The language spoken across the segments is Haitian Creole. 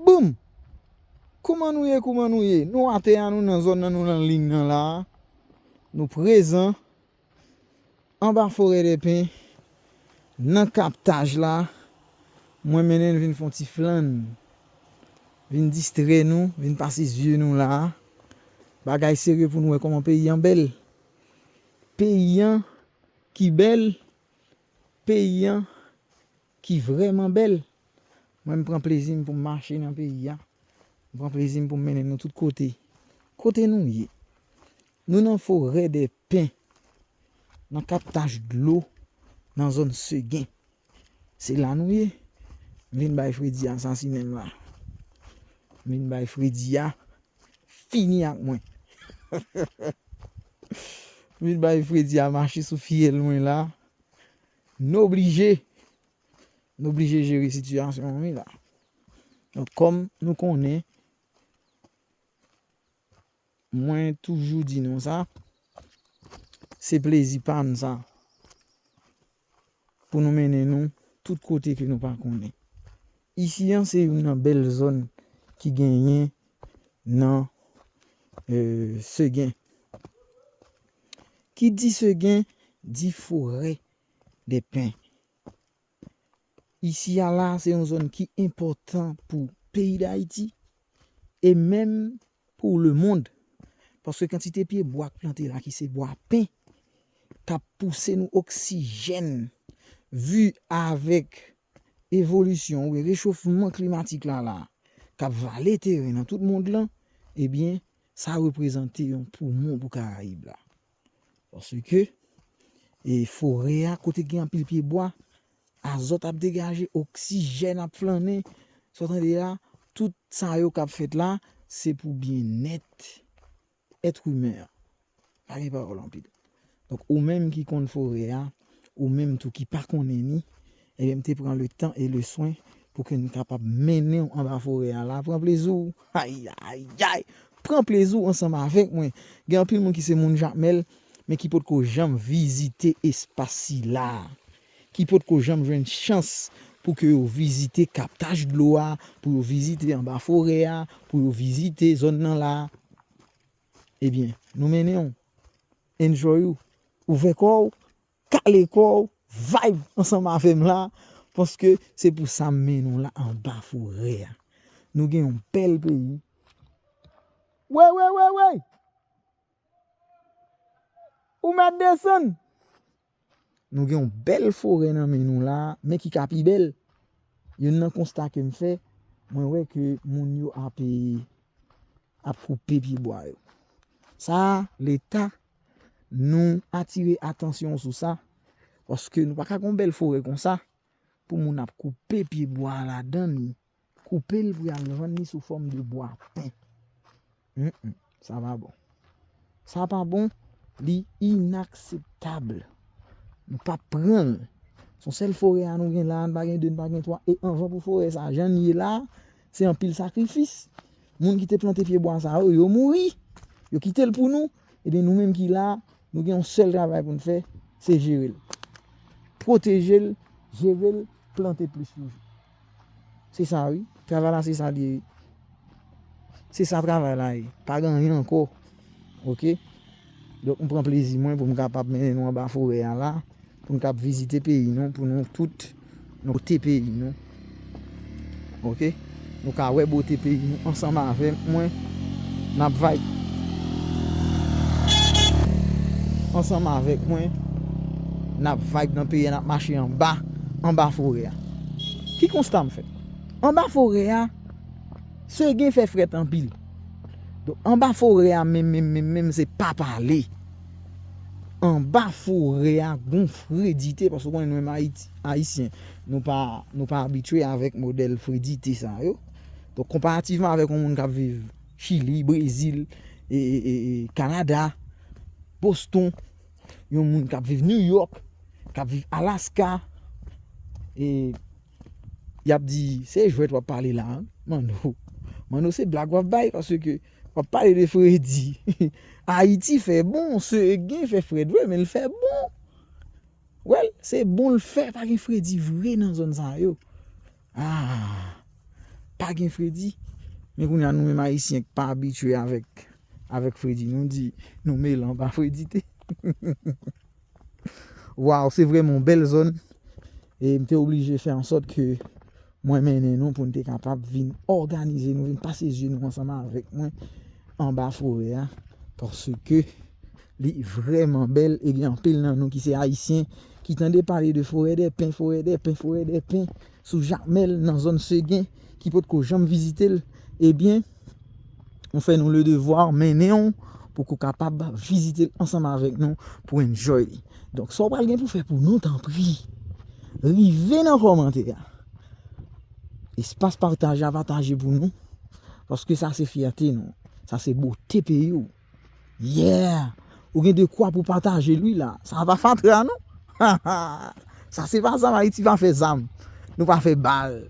Boom! Kouman nou ye kouman nou ye? Nou atè a nou nan zòn nan nou nan ling nan la a. Nou prezan anba forè dè pen nan kaptaj la. Mwen mennen n vin fon ti flann. Vin distrè nou, vin pase zye nou la a. Bagay serye pou nou wè kòman peyi an bèl. Peyi an ki bèl, peyi an. Ki vrèman bèl. Mwen m pran plezi m pou m mache nan peyi a. M pran plezi m pou m mennen nou tout kote. Kote nou ye? Nou nan forè dè pen. Nan kaptaj dlo. Nan zòn Segen. Se la nou ye. M vin bay fredi a sasinen m la. M vin bay fredi a fini ak mwen. M vin bay fredi a mache sou fyèl mwen la. Nou oblije Nou oblije jere sitiyasyon an wi la Donk kòm nou konnen Mwen toujou di nou sa Se plezi pa n sa Pou nou mennen nou Tout kote ke nou pa konnen Isi an se youn nan bèl zòn Ki genyen Nan Segen ki di segen di forè dè pen. Isi a la se yon zòn ki enpòtan pou peyi Dayiti e menm pou lemond paske kantite pye bwa k plante la ki se bwa pen k ap pouse nou oksijèn vi avèk evolisyon oubyen rechofman klimatik la la k ap vale teren nan tout mond lan ebyen sa reprezante yon poumon pou karayib la. Paske e forè a kote gen anpil pye bwa, azòt ap degaje, oksijèn ap flannen, sa w tande la, tout sa yo k ap fèt la, se pou byennèt èt imen an. Pa gen pawòl anpil. Donk ou menm ki konn forè a, ou menm tou ki pa konnen ni, ebyen m te pran le tan e le swen pou ke m kapab mennen w anba forè a la. Pran plezi w! Ayayayay! Pran plezi w ansanm avèk mwen. Gen anpil moun ki se moun Jakmèl, men ki potko janm vizite espas sila a. Ki potko janm jwenn chans pou ke yo vizite kaptaj dlo a, pou yo vizite anba forè a, pou yo vizite zòn nan la. Ebyen, nou mennen w. Enjoy ou. Ouvè kò w, kale kò w, vibe ansanm avè m la, paske se pou sa m mennen w la anba forè a. Nou gen yon bèl peyi. Wey wey wey wey! Ou mèt desann! Nou gen yon bèl forè nan men nou la, men ki ka pi bèl. Youn nan konsta ke m fè, mwen wè ke moun yo ape, ap koupe pi bwa yo. Sa a, leta, nou atire atansyon sou sa, paske nou pa ka gen yon bèl forè konsa, pou moun ap koupe pi bwa ladan li. Koupe l pou y al vann li sou fòm de bwa pen. Humm sa pa bon. Sa pa bon, li inakseptab. Nou pap pran l. Se yon sèl forè a nou gen la a, n pa gen 2, n pa gen 3 e anvan pou forè sa a jan l ye la a, se anpil sakrifis. Moun ki te plante pye bwa sa yo, yo mouri. Yo kite l pou nou. Ebyen nou menm ki la a, nou gen yon sèl travay pou n fè, se jere l. Pwoteje l, jere l, plante plis toujou. Se sa wi. Travay la se sa li ye wi. Se sa travay la ye. Pa gen anyen ankò. Ok. Donk m pran plezi mwen pou m kapab mennen nou anba forè a la. Pou nou kab vizite peyi nou. Pou nou tout nou goute peyi nou. Ok. Nou ka wè bote peyi nou ansanm avèk mwen. N ap vibe. Ansanm avèk mwen. N ap vibe nan peyi a. N ap mache anba. Anba forè a. Ki konsta m fè? Anba forè a, Seguin fè frèt anpil. Donk, anba forè a menm menm menm menm se pa pale. Anba forè a gon fredite paske ou konnen nou menm Ayisyen, nou pa nou pa abitye avèk modèl fredite sa yo. Donk, konparativman avèk yon moun k ap viv Chili, Brezil, Kanada, Boston. yon moun kap viv New York, kap viv Alaska, e, yap di, se jwèt wap pale la, Manno, Manno se blag wap bay, paske ke, wap pale de fredi, Ayiti fè bon, se gen fè frèd vre, men l fè bon, wèl, se bon l fè, pa gen fredi vre nan zòn sa yo. Aah pa gen fredi men kounye a nou menm ayisyen ki pa abitye avèk avèk fredi nou di nou melan pa fredi te Waww se vrèman yon bèl zòn e m te oblije fè ansòt ke mwen mennen nou pou n te kapab vin òganize nou vin pase zye nou ansanm avèk mwen anba forè a paske Li vrèman bèl e gen anpil nan nou ki se Ayisyen ki tande pale de forè dè pen, forè dè pen, forè dè pen sou Jakmèl nan zòn Segen ki pot ko janm vizite l, ebyen nou fè nou le devwa mennen w pou ko kapab vizite l ansanm avèk nou pou enjoy li. Donk sa w pral gen pou fè pou nou tanpri rive nan kòmantè a, espas pataje a pataje pou nou paske sa se fyète nou, sa se bote peyi w. Yeah! Ou gen de kwa pou pataje l wi la. Sa a pa fatra non. Ha ha! Sa se pa zam, Ayiti pa fè zam. Nou pa fè bal.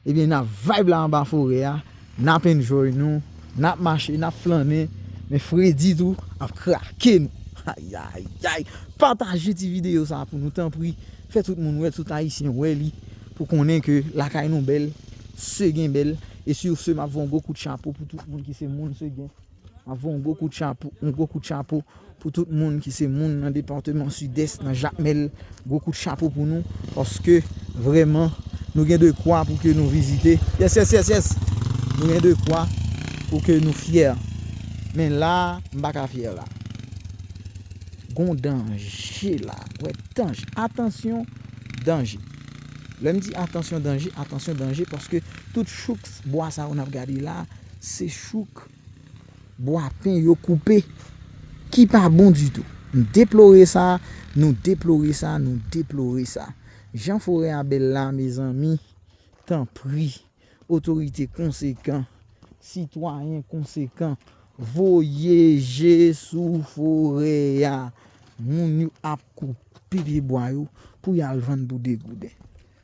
Ebyen n ap vibe la anba forè a, n ap enjoy nou, n ap mache, n ap flannen, men fredi tou ap krake nou. Ayayayy! Pataje ti videyo sa a pou nou tanpri. Fè tout moun wè l, tout Ayisyen wè li pou konnen ke lakay nou bèl, Seguin bèl. E sur ce, m ap voye yon gwo kout chapo pou tout moun ki se moun Seguin. Map voye yon gwo kout chapo, yon gwo kout chapo pou tout moun ki se moun nan departeman Sidès nan Jakmèl, gwo kout chapo pou nou paske vrèman nou gen de kwa pou ke nou vizite, yes yes yes yes nou gen de kwa pou ke nou fyè men la m pa ka fyè la gon danje la wè danje, atansyon danje lè m di atansyon danje, atansyon danje paske tout chouk bwa sa yo nap gade la. Se chouk bwa pen yo koupe ki pa bon ditou. M deplore sa, nou deplore sa, nou deplore sa. Jan forè a bèl la mezanmi, tanpri, otorite konsekan, sitwayen konsekan, voye je sou forè a. Moun yo ap koupe pye bwa yo pou y al vann pou 2 gouden.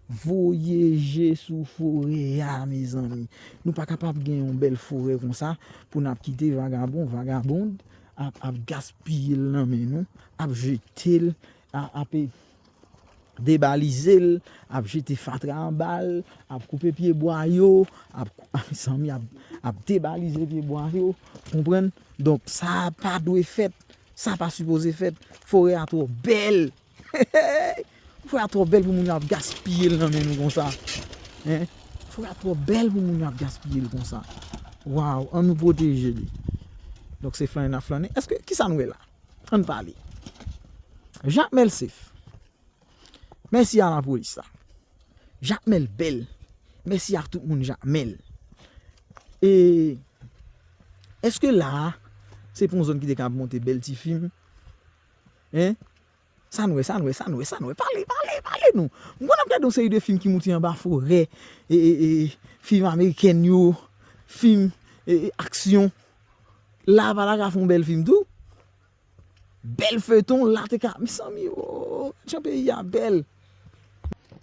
Voye je sou forè a mezanmi. Nou pa kapab gen yon bèl forè konsa pou n ap kite vagabon, vagabond ap gaspiye l nan men nou, ap jete l, ap debalize l, ap jete fatra anba l, ap koupe pyebwa yo, mezanmi, ap debalize pyebwa yo. Donk sa pa dwe fèt, sa pa sipoze fèt. Forè a twò bèl. Fouye a twò bèl pou moun yo ap gaspiye l nan men nou konsa. Fouye a twò bèl pou moun yo ap gaspiye l konsa. Waw, an nou pwoteje li. Donk se flannen n ap flannen. Eske, ki sa n wè la? An n pale. Jakmèl sef. Mèsi a lapolis la. Jakmèl bèl. Mèsi ak tout moun Jakmèl. E, eske la a, se pa yon zòn ki te kab monte bèl ti fim? Hein? Sa n wè, sa n wè, sa n wè, sa n wè? Pale, pale, pale nou! M konn n ap gade yon seri de fim ki moute anba forè, e, e, e, fim amerikèn yo, fim, e, e, aksyon. La a pa ta ka fè yon bèl fim tou? Bèl feyton la te ka, mezanmi o! Jan peyi a bèl!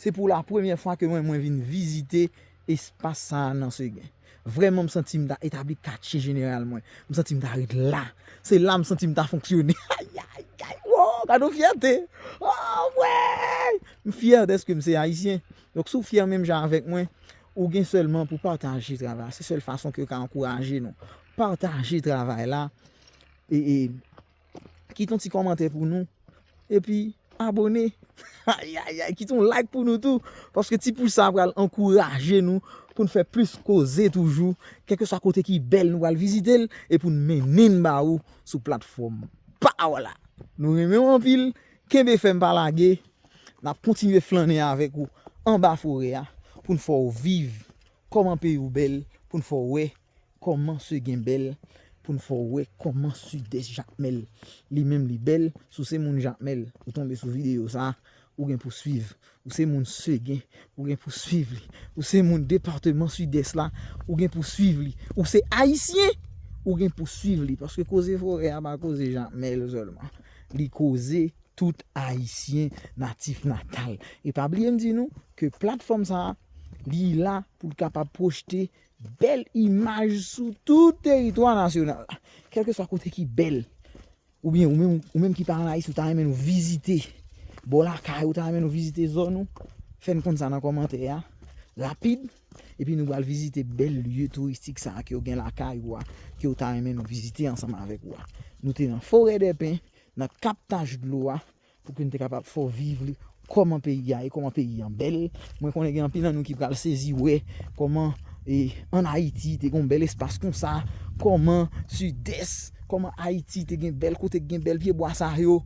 Se pou la premyè fwa ke mwen, mwen vin vizite Espas sa a nan Seguin. Vrèman m santi m ta etabli katye jeneral mwen. M santi m ta ret la. Se la m santi m ta fonksyone. Ayayayy! Woo! Gad yon fyète! Anmweyy! M fyè dèske m se Ayisyen. Donk si w fyè menm jan avèk mwen, ou gen sèlman pou pataje travay la. Se sèl fason ke yo ka ankouraje nou. Pataje travay la. E. Kite yon ti kòmantè pou nou. Epi abone. Ayayay kite yon like pou nou tou. Paske ti pouce sa pral ankouraje nou. Poun fè plis koze toujou. Kèlke swa kote ki bèl nou pral vizite l. E poun mennen ba ou sou platfòm pa ou la. Nou renmen ou anpil. Kenbe fèm pa lage. Nap kontinye flannen avèk ou anba forè a. Poun fè ou viv. Kòman peyi ou bèl. Poun fè ou wè. Kòman se gen bèl pou n fè w wè kòman sud'est jakmèl li menm li bèl si w se moun jakmèl ou tonbe sou videyo sa ou gen pou swiv ou se moun seguin ou gen pou swiv li ou se moun departeman sud'est la ou gen pou swiv li ou se ayisyen ou gen pou swiv li paske koze forè a pa koze jakmèl sèlman li koze tout ayisyen natif natal e pa bliye m di nou ke platfòm sa li la pou l kapab pwojte Bèl imaj sou tout teritwa nasyonal la. Kèlkeswa kote ki bèl, oubyen ou menm ki pa ann Ayiti ou ta renmen nou vizite bò lakay ou, ta renmen nou vizite zòn ou, fè n konn sa nan kòmantè a rapid epi nou pral vizite bèl lye touristik sa a ke ou gen lakay ou a ke ou ta renmen nou vizite ansanm avèk ou a. Nou te nan Forèdèpen, nan Kap Tachdlo a, Pou ke n te kapab fè w viv li, kòman peyi a ye, kòman peyi an bèl. Mwen konnen gen anpil nan nou ki pral sezi wè kòman an Ayiti te gen yon bèl espas konsa, kòman Sidès, kòman Ayiti te gen bèl kote ki gen bèl pyebwa sa yo.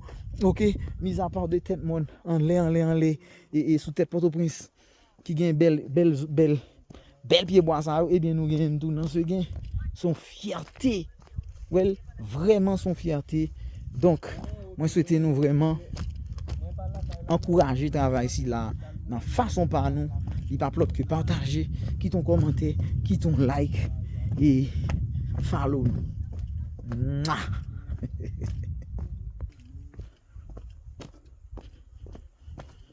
Ok, mizapa de tèt mòn anlè anlè anlè e sou tèt Pòtoprens. ki gen bèl bèl bèl bèl pye bwa sa yo ebyen nou genyenn tou nan segen son fyète wèl vrèman son fyète donk mwen swete nou vrèman ankouraje travay sila nan fason pa nou li pa p lòt ke pataje kit on kòmante kit on like e follow nou mwa hehehe